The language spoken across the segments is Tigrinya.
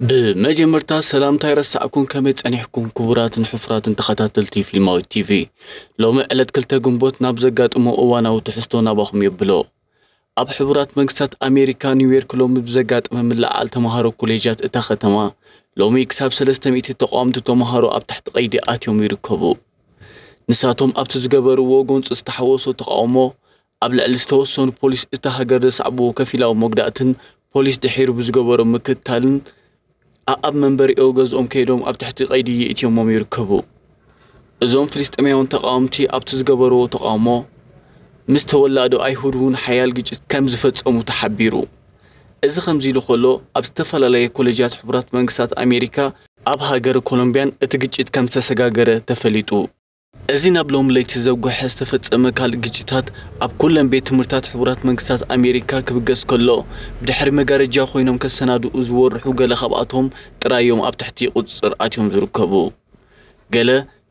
ብመጀመርታ ሰላምታ ኣይረሳዕኩን ከመይ ጸኒሕኩም ክቡራትን ሕፉራትን ተኸታተልቲ ፍሊማዊት ቲቪ ሎሚ ዕለት ክልተ ግንቦት ናብ ዘጋጥሞ እዋናዊ ትሕዝቶ ናባኹም የብሎ ኣብ ሕቡራት መንግስታት ኣሜሪካ ኒውዮርክ ሎሚ ብዘጋጠመ ምልዕዓል ተምሃሮ ኮሌጃት እታ ከተማ ሎሚ ክሳብ ሰለስተ ሚእቲ ተቃወምቲ ተምሃሮ ኣብ ትሕቲ ቀይዲ ኣትዮም ይርከቡ ንሳቶም ኣብቲ ዝገበርዎ ጎንፂ ዝተሓወሶ ተቃውሞ ኣብ ልዕሊ ዝተወሰኑ ፖሊስ እታ ሃገር ዘስዓብዎ ከፊላዊ መጉዳእትን ፖሊስ ድሒሩ ብዝገበሮ ምክትታልን ኣኣብ መንበሪኦ ገዝኦም ከይዶም ኣብ ትሕቲ ቀይዲ የእትዮሞም ይርከቡ። እዞም ፍልስጤማውያን ተቓወምቲ ኣብቲ ዝገበርዎ ተቓውሞ ምስ ተወላዶ ኣይሁድ እውን ሓያል ግጭት ከም ዝፈጸሙ ተሓቢሩ። እዚ ከምዚ ኢሉ ከሎ ኣብ ዝተፈላለየ ኮለጃት ሕቡራት መንግስታት ኣሜሪካ፣ ኣብ ሃገረ ኮሎምቢያን እቲ ግጭት ከም ዝተሰጋገረ ተፈሊጡ። እዚ ናብ ሎሚ ለይቲ ዘጉሐ ዝተፈጸመ ካልእ ግጭታት ኣብ ኩለን ቤት ትምህርታት ሕቡራት መንግስታት ኣሜሪካ ክብገስ ከሎ፣ ብድሕሪ መጋረጃ ኮይኖም ከሰናድኡ ዝወርሑ ገለ ካብኣቶም ጥራይ'ዮም ኣብ ትሕቲ ቁጽጽር ኣትዮም ዝርከቡ። ገለ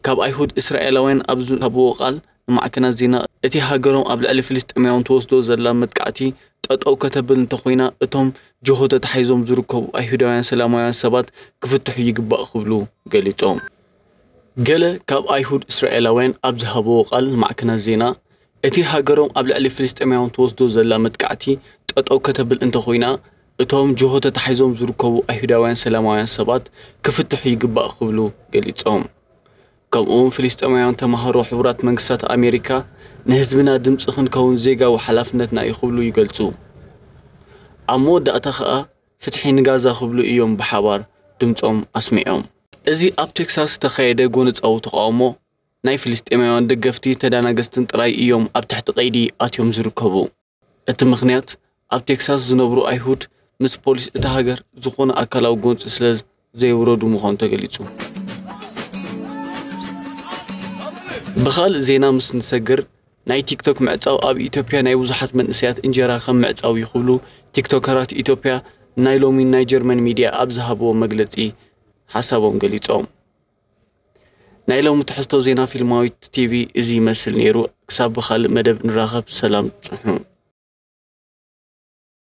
ካብ ኣይሁድ እስራኤላውያን ኣብ ዝሃብዎ ቃል ንማዕከናት ዜና፣ እቲ ሃገሮም ኣብ ልዕሊ ፍልስጤማውያን ትወስዶ ዘላ መጥቃዕቲ ጠጠው ከተብል እንተኾይና እቶም ጅሆ ተታሒዞም ዝርከቡ ኣይሁዳውያን ሰላማውያን ሰባት ክፍትሑ ይግባእ ክብሉ ገሊጾም። ገለ ካብ ኣይሁድ እስራኤላውያን ኣብ ዝሃብዎ ቃል ንማዕከናት ዜና፣ እቲ ሃገሮም ኣብ ልዕሊ ፍልስጤማውያን ትወስዶ ዘላ መጥቃዕቲ ጠጠው ከተብል እንተኾይና እቶም ጅሆ ተታሒዞም ዝርከቡ ኣይሁዳውያን ሰላማውያን ሰባት ክፍትሑ ይግባእ ክብሉ ገሊጾም። ከምኡ'ውን ፍልስጤማውያን ተማሃሮ ሕቡራት መንግስታት ኣሜሪካ ንህዝብና ድምጺ ክንከውን ዜጋዊ ሓላፍነትና እዩ ክብሉ ይገልጹ። ኣብ መወዳእታ ከኣ ፍትሒ ንጋዛ ክብሉ እዮም ብሓባር ድምጾም ኣስሚዖም። እዚ ኣብ ቴክሳስ ዝተኻየደ ጎነጻዊ ተቓውሞ፣ ናይ ፍልስጤማውያን ደገፍቲ ተዳናገስትን ጥራይ እዮም ኣብ ትሕቲ ቀይዲ ኣትዮም ዝርከቡ። እቲ ምኽንያት፣ ኣብ ቴክሳስ ዝነብሩ ኣይሁድ ምስ ፖሊስ እታ ሃገር ዝኾነ ኣካላዊ ጎንጺ ስለ ዘይውረዱ ምዃኑ ተገሊጹ። ብኻልእ ዜና ምስ ንሰግር ናይ ቲክቶክ ምዕጻው ኣብ ኢትዮጵያ ናይ ብዙሓት መንእሰያት እንጀራ ከም ምዕጻው እዩ ክብሉ ቲክቶከራት ኢትዮጵያ ናይ ሎሚ ናይ ጀርመን ሚድያ ኣብ ዝሃብዎ መግለጺ ሓሳቦም ገሊጾም። ናይ ሎሚ ትሕዝቶ ዜና ፊልማዊት ቲቪ እዚ ይመስል ነይሩ። ክሳብ ብኻልእ መደብ ንራኸብ ሰላም ጽንሑ።